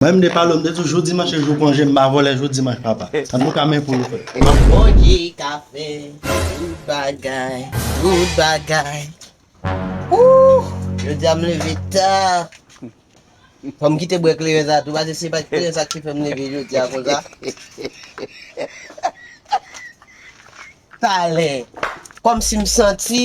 Mwen m de palo m de tou jou dimanch se jou konje m pa vole jou dimanch papa antouka men pou nou fè. Se Bondye ka fè tout bagay, tout bagay Ooh Jodia m leve ta Fòm kite bwè kleren sa tou pase se pa kleren sa ki fèm leve jodia konsa Talè Kòmsi m santi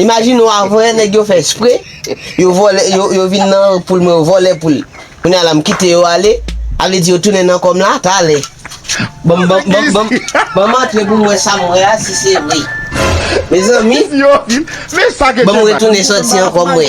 Imajine ou avè nèg yo fè espre, yo vòlè, yo vin nan poul mwen yo vòlè poul. Kounye a la m kite yo ale, a vle di yo tounen nan kò m la, talè. Banm banm banm banm banm antre pou m wè sa m wè a si se vre. Mezanmi, banm retounen sòti ankò m wè.